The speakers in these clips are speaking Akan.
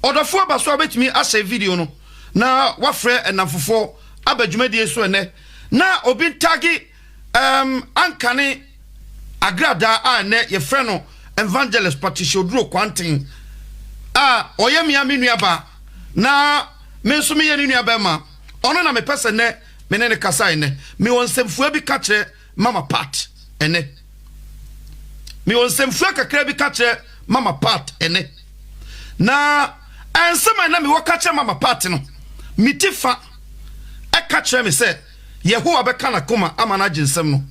Ɔdɔfoɔ Abasoa bɛtumi ahyɛ video no na wafrɛ nnamfofoɔ aba dwumadie yi so ɛnnɛ na obi ntagge erm Ankane Agradaa a ɛnnɛ yɛfrɛ no Evangelist Patricia Oduro Kwanten a ɔyɛ me ara me nuabaa na me nso meyɛ ne nuabarima. Ɔno na mepɛ sɛ nnɛ me ne no kasa ɛnnɛ. Mewɔ nsɛmfua bi ka kyerɛ. Mama Pat ɛnnɛ? Mewɔ nsɛmfua kakra bi ka kyerɛ Mama Pat ɛnnɛ. Na nsɛm a na mewɔ ka kyerɛ Mama Pat no, me ti fa ka kyerɛ me sɛ Yehowa bɛka n'akoma ama no agye nsɛm no.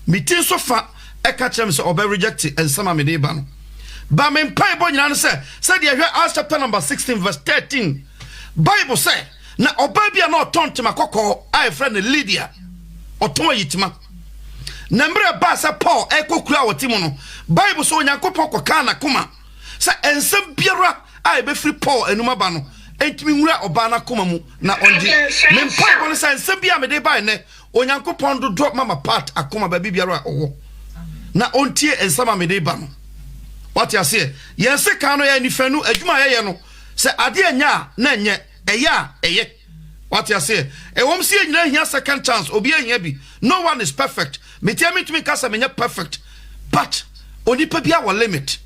Me ti nso fa ka kyerɛ me sɛ ɔbɛ reject nsɛm a mede reba no. Ba me mpaebɔ nyinaa ne sɛ, sɛdeɛ ɛhwɛ Acts chapter number 16 verse 13, Bible sɛ, Na ɔbaa bi a na ɔtɔn tema kɔkɔɔ a yɛfrɛ no Lidia, ɔtɔn ayitema. Na mmerɛ ɛbaa sɛ Paul rekɔ kuro a ɔte mu no, Bible sɛ Onyankopɔn kɔkaa n'akoma sɛ nsɛm biara a ɛbɛfiri Paul anum aba no ntumi nwura ɔbaa no akoma mu na ɔngye. Me mpaebɔ no sɛ nsɛm bi a mede bae nnɛ, Onyankopɔn dodɔ Mama Pat akoma baabi biara a ɔwɔ na ɔntie nsɛm a mede ba no. Wate aseɛ? Yɛn sekan no, yɛn anifanu, adwuma a yɛyɛ no, Sɛ adeɛ nyɛ a, na ɛnyɛ. Ɛyɛ a, ɛyɛ. Wate aseɛ? Ɛwɔm sɛ yɛn nyinaa hia second chance, obiara hia bi. No one is perfect. Me deɛ mentumi nka sɛ menyɛ perfect, but onipa biara wɔ limit.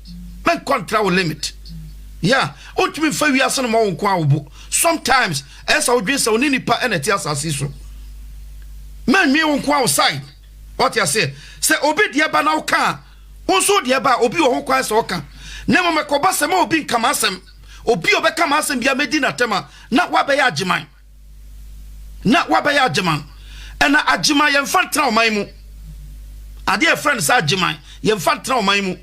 Menkɔ ntra wo limit. Yeah, wontumi mfa wiase no mmɔ wo nko ara wo bo. Sometimes, ɛyɛ sɛ wodwene sɛ wo ne nnipa na ɛte asase yi so. Mannwen wo nko ara wo side. Wate aseɛ? Sɛ obi deɛ ba na woka a, Wo nso wode ɛba a, obi wɔ ho kwan sɛ ɔka, na mmom ɛkɔba sɛ mma obi nka m'asɛm. Obi a ɔbɛka m'asɛm biara, mɛdi no atɛm a, na wabɛyɛ agyeman. Na wabɛyɛ agyeman. Ɛna agyeman, yɛmfa ntena ɔman mu. Adeɛ a yɛfrɛ no sɛ agyeman, yɛmfa ntena ɔman mu.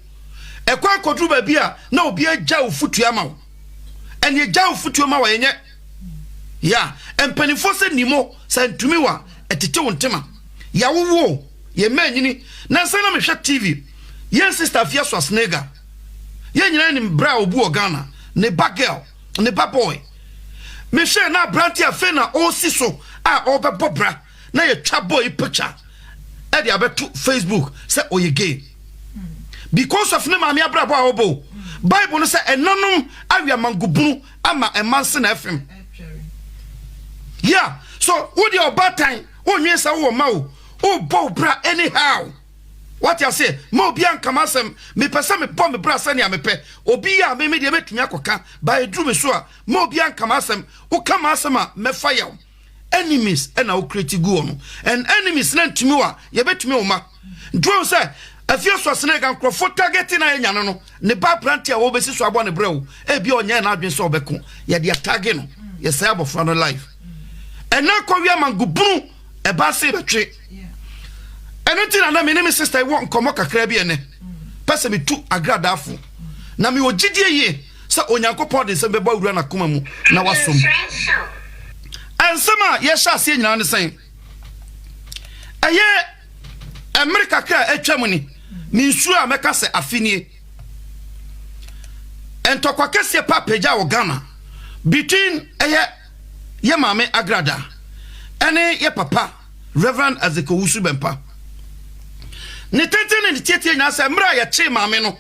Ɛkwan kɔduru baabi a, na obi agya ofutuo ama wo. Ɛne agya ofutuo ma wo a, ɛnyɛ. ya mpanimfoɔ sɛ nim o sɛ ntumi wa ɛtete wo ntema yawowo yɛ mma anyini na nsa na mehwɛ tv yɛn sister afia so asnega yɛn nyinaa nim bra a obu wɔ Ghana ne ba girl ne ba boy mehwɛ na aberante afei na ɔresi so a ɔrebɛbɔ bra na yɛtwa boy picture ɛde abɛto facebook sɛ ɔyɛ gay because of ne maame abrabɔ a ɔbɔ bible no sɛ ɛnanom awia mangobunu ama ɛma nse na ɛfem yeah so wo deɛ ɔbaatan wonwen sɛ wowɔ ma o wobɔ wo bra anyhow wate aseɛ ma obi ankama asɛm mepɛ sɛ mebɔ me bra sɛnea mepɛ obi yɛ a me me deɛ mɛtumi akɔka ba ɛduru me so a ma obi ankama asɛm woka ma asɛm a mɛfa yaw enemies ɛna wokura ti gu wɔn and enemies na ntumi wa yɛbɛtumi wɔn ma duro sɛ afie so asena ɛga nkurɔfo targeting ayɛ nyane no ne ba aberante a wɔbɛsi so abɔ ne brɛ o ebi ɔnyɛ na adwene sɛ ɔbɛko yɛde atage no yɛsɛ abɔfra no life ɛna kɔwia mango bunu ɛba se bɛtwe ɛno nti na na me ne me sister wɔ nkɔmmɔ kakra bi ɛnɛ pɛ sɛ metu agradafo na mewɔ gyidie yie sɛ Onyankopɔn de nsɛm bɛbɔ awura n'akoma mu na wasom. Nsɛm a yɛhyɛ aseɛ nyinaa ne sɛn? Ɛyɛ mmere kakra a atwam ni, ne nsuo a mɛka sɛ afe nie. Ntɔkwa kɛseɛ pa pagya wɔ Ghana between ɛyɛ yɛ maame Agrada ɛne yɛ papa Reverend Azekowusu Bɛmpa. Ne tenten ne ne tietie nyinaa sɛ mmerɛ a yɛkyee maame no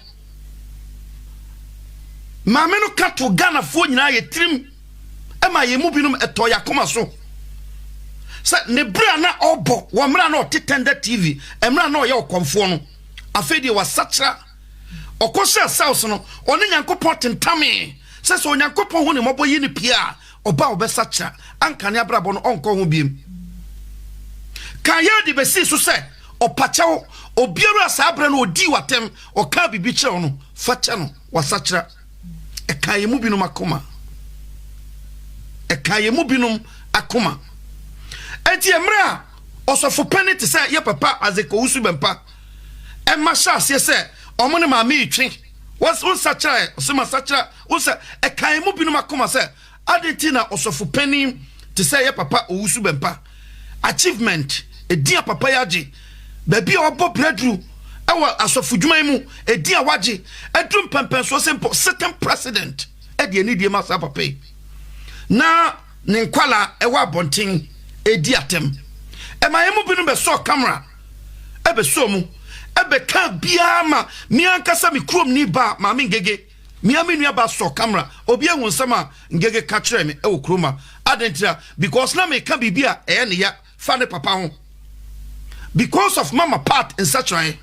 Maame no ka to Ghanafoɔ nyinaa yɛ tirim ma yɛn mu binom ɛtɔ yɛ akoma so sɛ ne bere a na ɔbɔ wɔ mmerɛ a na ɔte Tender TV mmerɛ a na ɔyɛ ɔkɔmfoɔ no afei deɛ wasakyera ɔkɔ hyɛ sales no ɔne Nyankopɔn tentamee sɛ sɛ Onyankopɔn ho ne mmɔbɔ yi ne pie a Ɔba a ɔbɛsakyera anka ne abrabɔ no ɔnkɔ ho biem. Kayode besii so sɛ, Ɔpa kyɛw, obiara a saa bere no odii wo atɛm, ɔkaa biribi kyerɛɛ wo no, fa kyɛ no, wasakyera. Ɛkaa yɛn mu binom akoma. Ɛkaa yɛn mu binom akoma. Enti mmerɛ a ɔsɔfopɛni te sɛ yɛ papa Azekowusu Bɛmpa ɛma hyɛ aseɛ sɛ ɔmo ne maame retwe, wɔnsakyera ɛ, ɔsɛ masakyera. Wohu sɛ ɛkaa emu binom akoma sɛ, Adɛn nti na ɔsɔfo panyin te sɛ yɛn papa Owusu Bɛmpa, achievement, edin a papa yi agye, baabi a wabɔ brɛduru wɔ asɔfodwuma yi mu, edin a wagye aduru mpɛmpɛnsoɔ sɛ mpo sitting president de anidie ma saa papa yi, na ne nkwadaa wɔ abɔnten redi atɛm? Ɛmaa yɛn mu binom bɛsɔɔ kamera, ɛbɛsɔɔ mu, ɛbɛkaa biara ma me ankasa me kuromni baa Maame Ngege. Me ara me nua ba sɔ camera, obi ahu nsɛm a Ngege ka kyerɛɛ me wɔ kurom a. Adɛn ntira? Because na meka biribi a ɛyɛ ne ya fa ne papa ho. Because of Mama Pat nsakyeraɛ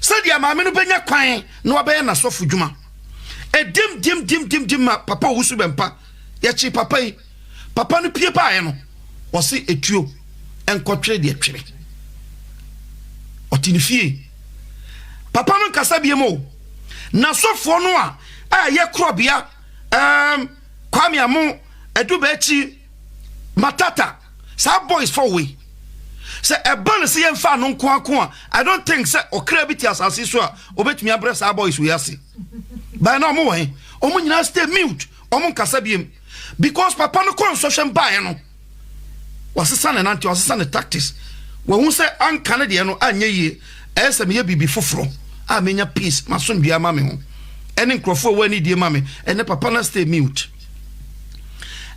sɛ deɛ maame no bɛnya kwan na wabɛyɛ n'asɔfo dwuma. Ɛdim dim dim dim dim ma papa owu so bɛmpa. Yɛkyee papa yi. Papa no pue baeɛ no, ɔse ɛtuo nkɔtwere deɛ twere. Ɔte ne fie. Papa no nkasa biem o. N'asɔfoɔ no a ɛyɛ korɔbea um, Kwame Amo, Adubakyi, Matata, saa boys fɔ wei. Sɛ ɛba no sɛ yɛmfa ano nko ako a, I don't think sɛ ɔkra bi te asase so a ɔbɛtumi abrɛ saa boys wei ase. Bae na ɔmo wɔ he? Ɔmo nyinaa stay mute. ɔmo nkasa biem because papa no kɔ nsɔhwɛm baeɛ no wasesa ne nante wasesa ne tactics wahu sɛ anka ne deɛ no anyɛ yie ɛyɛ sɛ meyɛ biribi foforɔ a menya peace masomdwe ama me ho ɛne nkurɔfoɔ a wɔani die ma me ɛnɛ papa no stay mute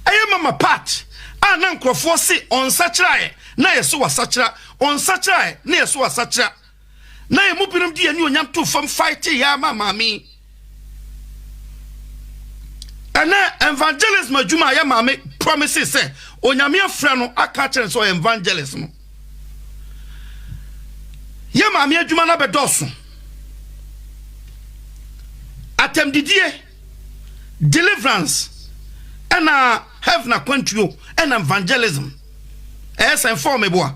ɛyɛ mama part a na nkurɔfoɔ se ɔnsakyeraeɛ na yɛso wasakyera ɔnsakyeraeɛ na yɛso wasakyera na yɛn mu binom de yɛn anuonyam too fam faetee yɛ ara ma Maame yi. Ɛnɛ evangelism adwuma a yɛ Maame promise sɛ Onyame afrɛ no aka akyerɛ no sɛ ɔyɛ evangelist no, yɛ Maame adwuma no abɛdɔɔso. Atɛmdidie. Deliverance ɛna heaven akwantuo ɛna evangelism ɛyɛ sɛn fɔɔ me boa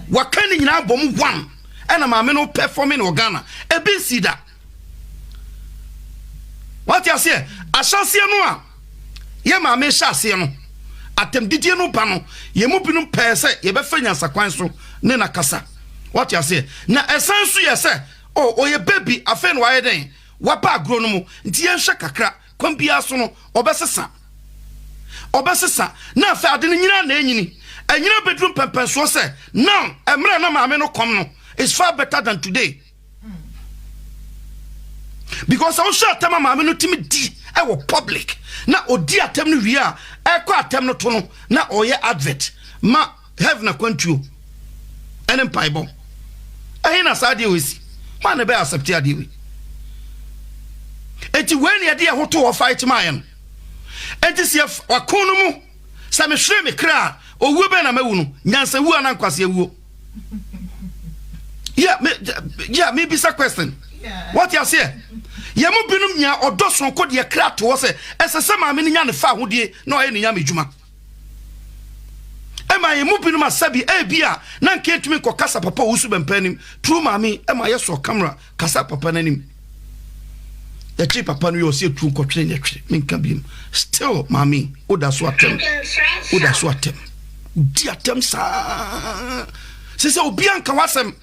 waka ne nyinaa bɔ mu one ɛna maame no performing wɔ Ghana ebi nsi da wate aseɛ ahyɛseɛ no a yɛ maame hyɛ aseɛ no atɛmdidie no ba no yɛn mu binom pɛɛ sɛ yɛbɛfa nyansakwan so ne na kasa wate aseɛ na ɛsan so yɛ sɛ oh ɔyɛ baby afei na wayɛ dɛn Waba agorɔ no mu, nti yɛnhwɛ kakra, kwan biara so no, ɔbɛsesa. Ɔbɛsesa, na afei ade no nyinaa na ɛnyini. Ɛnyina bɛduru mpɛmpɛnsoɔ sɛ, now, ɛmerɛ na maame no kɔm no is far better than today. Because sɛ wohwɛ atɛm a maame no tumi di ɛwɔ public, na ɔdi atɛm no wie a, ɛkɔ atɛm no to no, na ɔyɛ advert ma Heaven akwantuo ɛne mpaebɔ. Ɛhe na saa adeɛ wei si? Hwan na ɛbɛyɛ accept adeɛ wei? Enti wei na yɛde yɛn ho to hɔ fight maa yɛn. Enti sɛ ɔko no mu sɛ mehwere me kra a owuo bɛn na mawu no? Nyansa wuo anaa nkwasea wuo? Yeah, me, yeah, me bisa question. What you say? Yɛ mu binom nya ɔdɔ soronko deɛ kra to hɔ sɛ ɛsɛ sɛ maame no nya ne fa ahodeɛ na ɔyɛ ne nyame dwuma. ɛma yɛn mu binom asa bi ebi a na nka yɛntumi nkɔ kasa papa ɔwusu bɛmpa anim turu maame ɛma yɛsɔ kamera kasa papa no anim yɛkye papa no yɛ ɔsɛ yɛtu nkɔtwene ne ɛtwene menka biom still maame woda so atɛm woda so atɛm wodi atɛm saa sɛ sɛ obi anka wasɛm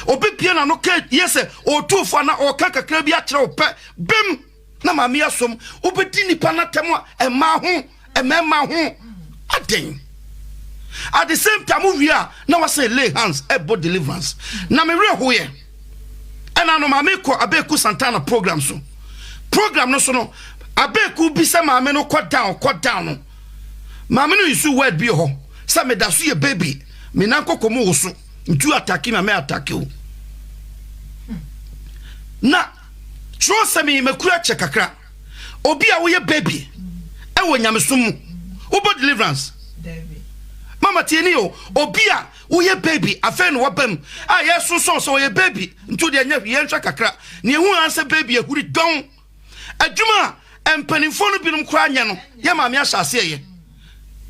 obi pie na no ka yɛ sɛ ɔtufoɔ na ɔka kakra bi akyerɛ wo pɛ bem Na Maame Asom, wobɛdi nnipa no atɛm a, mmaa ho, mmarima ho, adɛn? At the same time, wowie a, na wasan lay hands ɛbɔ deliverance. Na me werɛ hoeɛ. Ɛna no maame kɔ Abeku Santana program so. Program no so no, Abeku bi sɛ maame no kɔ down, kɔ down no. Maame no nsu word bi hɔ, sɛ meda so yɛ baby, me nan kɔkɔ mu wo so, nti wo atake ma me atake o. Na. Kyerɛwsɛm yi, Makura kyɛ kakra. Obi a woyɛ baby ɛwɔ nyamesom mu, wobɔ deliverance? Dabi. Mama tie ni o, obi a woyɛ baby afei na waba mu a yɛsonsɔn sɛ ɔyɛ baby nti o deɛ nyɛ hwee yɛnhwɛ kakra. Nea ehu ara sɛ baby ahuri dɔn. Adwuma a mpanimfoɔ no binom koraa nyɛ no yɛ maame ahyɛ aseɛ yɛ.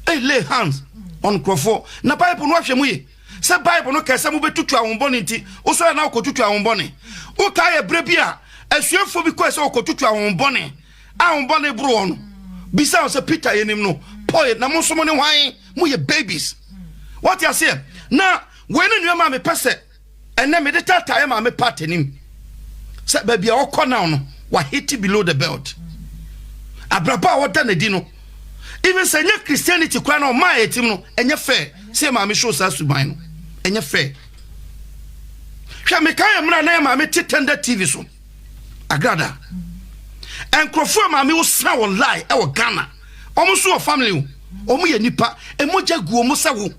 Ei lay hands on nkurɔfoɔ na Bible no ahwɛ mu ye. sɛ bible no kɛɛ sɛ mobɛtutu ahombɔne nti wosɔre na wokɔtutu ahombɔne wotaa yɛ berɛ bi a asuafoɔ bi kɔɛ sɛ wɔkɔtutu ahombɔne ahombɔne boroɔ no bisa wo sɛ peter yɛnim no paul na mo nso mo ne hwan moyɛ babies wate aseɛ na wei ne nnuama a mepɛ sɛ ɛnɛ mede tataeɛ ma me part anim sɛ baabi a wɔkɔ now no wahete below the belt abrabɔ a wɔda n'adi no even sɛ ɛnyɛ christianity koraa na ɔmaa yɛtim no ɛnyɛ fair sɛ yɛ maame show saa suban no ɛnyɛ fair hwɛ meka yɛ mmerɛ na yɛ maame te tɛndɛ tv so agrada nkurɔfoɔ a maame wo sra wɔn lie ɛwɔ ghana wɔn nso wɔ family o wɔn yɛ nipa ɛmogya gu wɔn sɛ wo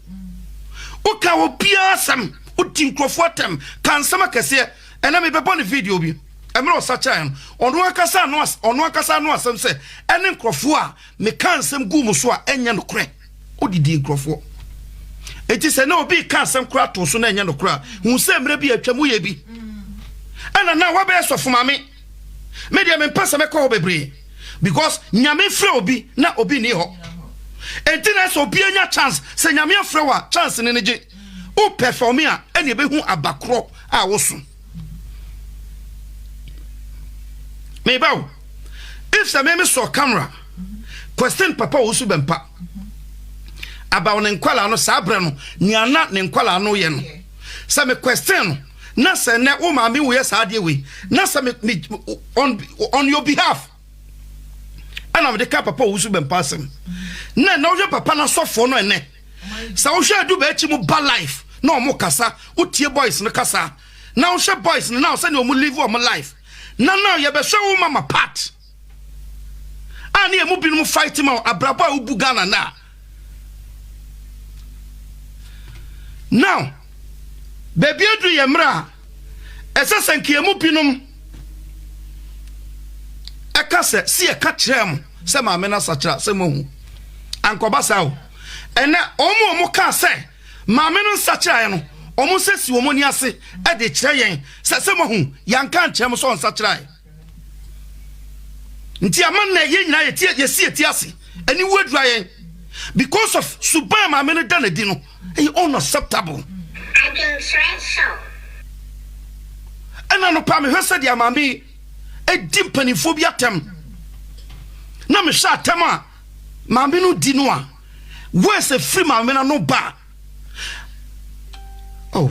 woka obiara asɛm wodi nkurɔfoɔ atɛm ka nsɛm akɛseɛ Ɛnɛ mebɛbɔ no video bi. Mmerɛ ɔsakyeaeɛ no, ɔno ankasa ano as ɔno ankasa ano asɛm sɛ ɛne nkurɔfoɔ a mekaa nsɛm guu mo so a ɛnyɛ nokorɛ. Wodidii nkurɔfoɔ. Enti sɛ na obi reka asɛm koraa too so na ɛnyɛ nokorɛ a, hu sɛ mmerɛ bi atwam woyɛ bi. Ɛna na wabɛyɛ sɔfo ma me. Me deɛ mempɛ sɛ mɛkɔ hɔ bebree because Nyame mfrɛ obi na obi nni hɔ. Enti na sɛ obi anya chance, sɛ Nyame afrɛ wo a chance no no gye. Wopɛ for me a, ɛne ɛbɛhu aba korɔ a woso. Me ba o, if sɛ me me sɔ camera question papa a wosu bɛmpa abaw ne nkwalaa no saa berɛ no nea na ne nkwalaa no yɛ no sɛ me question no na sɛ nnɛ wo maame woyɛ saa adeɛ wei na sɛ me, me on, on your behalf ɛna mede ka papa a wosu bɛmpa asɛm na ɛnɛ wohwɛ papa no asɔfoɔ no ɛnɛ Sɛ wohwɛ adu bɛakyi mu ba life na ɔmo kasa wotie boys no kasa na wohwɛ boys no na sɛnea ɔmo live ɔmo life na na yɛbɛhwɛ wo mama part a ne ɛmu binom fight ma abrabɔ a wobu Ghana na now baabi aduru yɛ mmerɛ a Ɛsɛ sɛ nkeamu binom ka sɛ, Si yɛka kyerɛɛ mo sɛ maame no asakyera sɛ moahu. Ankɔba saa o. Ɛnɛ, wɔn a wɔkaa sɛ maame no nsakyeraeɛ no, wɔn nsa si wɔn ani ase de kyerɛ yɛn sɛ, Sɛ moahu, yɛanka ankyerɛ mo sɛ ɔnsakyeraeɛ. Nti ama nnɛ yɛn nyinaa yɛtie yɛsi yɛti ase aniwu adura yɛn because of suban maame no da n'adi no ɛyɛ unacceptable. Adwenkyerɛ show. Ɛna anɔpa mehwɛ sɛ deɛ maame edi mpanimfoɔ bi atɛm na mehwɛ atɛm a maame no di no a wɔɛsɛ firi maame no ano ba oh.